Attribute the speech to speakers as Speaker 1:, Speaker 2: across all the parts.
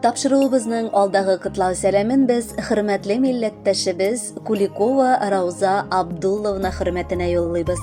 Speaker 1: Тапшыруыбызның алдагы котлау сәламен без хөрмәтле милләттәшебез Куликова Рауза Абдулловна хөрмәтенә юллыйбыз.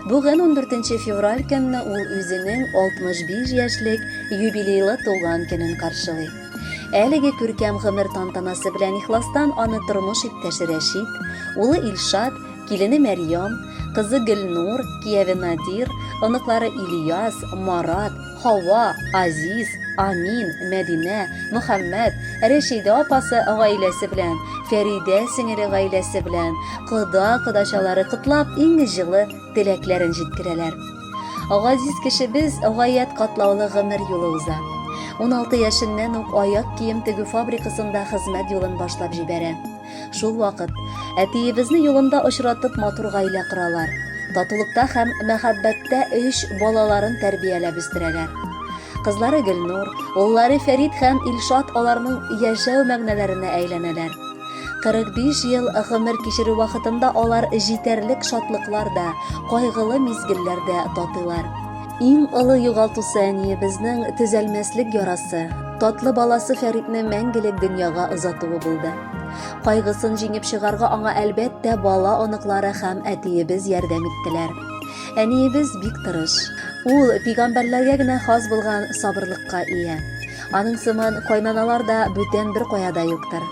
Speaker 1: Бүген 14 февраль көнне ул үзенең 65 яшьлек юбилейлы туган көнен каршылый. Әлеге күркәм гомер тантанасы белән ихластан аны тормыш иптәше Рәшит, улы Илшат, килене Мәрьям, кызы Гөлнур, кияве Надир, оныклары Ильяс, Марат, Хава, Азиз, Амин, Мәдинә, Мөхәммәд, Рәшидә апасы гаиләсе белән, Фәридә сеңеле гаиләсе белән, кода-кодачалары котлап иң җылы теләкләрен җиткерәләр. Газиз кешебез гаять катлаулы гомер юлы уза. 16 яшеннән үк аяк кием тегү фабрикасында хезмәт юлын башлап җибәрә. Шул вакыт әтиебезне юлында очратып матур гаилә коралар. Татулыкта һәм мәхәббәттә өч балаларын тәрбияләп үстерәләр. Кызлары Гөлнур, уллары Фәрид һәм Илшат аларның яшәү мәгънәләренә әйләнәләр. 45 ел гомер кичерү вакытында алар җитәрлек шатлыклар да, кайгылы мизгелләр дә татыйлар. Иң олы югалтусы әниебезнең төзәлмәслек ярасы, татлы баласы Фәритне мәңгелек дөньяга озатуы булды. Кайгысын җиңеп чыгарга аңа әлбәттә бала оныклары һәм әтиебез ярдәм иттеләр. Әниебез бик тырыш. Ул пигамбәрләргә генә хас булган сабырлыкка ия. Аның сыман кайнаналар да бүтән бер каяда юктыр.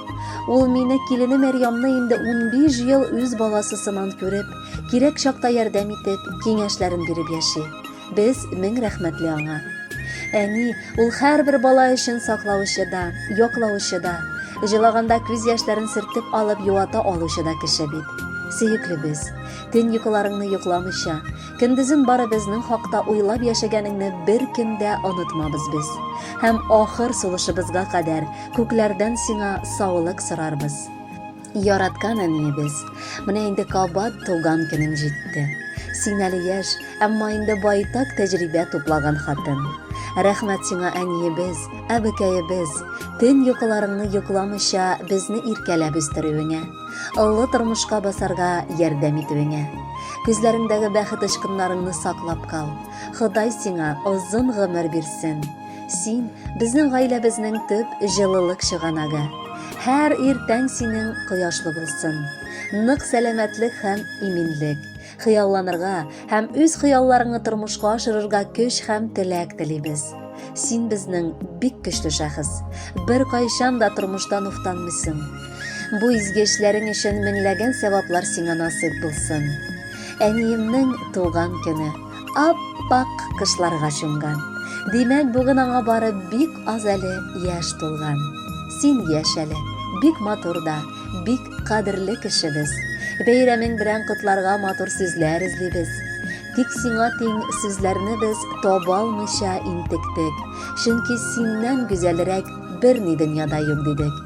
Speaker 1: Ул мине килене Мәрьямны инде 15 ел үз баласы сыман күреп, Кирәк чакта ярдәм итеп, киңәшләрен биреп яши. Без мең рәхмәтле аңа. Әни, ул һәрбер бала өчен саклаучы да, яклаучы да, җылаганда күз яшьләрен сөртеп алып юата алучы да кеше бит. Сөеклебез, төн йокыларыңны йокламыйча, көндезен бары безнең хакта уйлап яшәгәнеңне бер кем дә онытмабыз без. Һәм ахыр сулышыбызга кадәр күкләрдән сиңа саулык сорарбыз. Яраткан әниебез, менә инде кабат туган көнең җитте. Син әле яшь, әмма инде байтак тәҗрибә туплаган хатын. Рәхмәт сиңа, әниебез, әбекәебез, төн йокыларыңны йокламыйча безне иркәләп үстерүеңә, олы тормышка басарга ярдәм итүеңә. Күзләреңдәге бәхет очкыннарыңны саклап кал. Ходай сиңа озын гомер бирсен. Син безнең гаиләбезнең төп җылылык чыганагы. Һәр иртән синең кояшлы булсын. Нык сәламәтлек һәм иминлек. Хыялланырга һәм үз хыялларыңны тормышка ашырырга көч һәм теләк телибез. Син безнең бик көчле шәхес. Бер кайчан да тормыштан уфтанмыйсын. Бу изге эшләрең өчен меңләгән сәваплар сиңа насыйп булсын. Әниемнең туган көне. Ап-ак кышларга чумган. Димәк, бүген аңа бары бик аз әле яшь тулган. Син яшь әле, бик матур да, бик кадерле кешебез. Бәйрәмең белән котларга матур сүзләр эзлибез. Тик сиңа тиң сүзләрне без таба алмыйча интектек, чөнки синнән гүзәлрәк берни дөньяда юк дидек.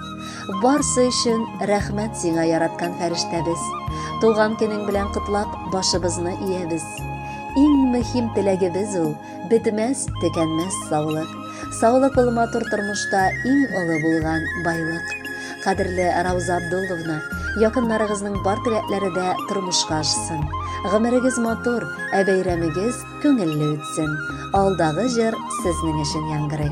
Speaker 1: Барсы өчен рәхмәт сиңа яраткан фәрештәбез. Туган көнең белән котлап, башыбызны иябез. Иң мөһим теләгебез ул, бетмәс, төкәнмәс саулык. Саулык ул матур тормышта иң олы булган байлык. Кадерле Рауза Абдулловна, якыннарыгызның бар теләкләре дә тормышка ашсын. Гомерегез матур, ә бәйрәмегез күңелле үтсен. Алдагы җыр сезнең өчен яңгырый.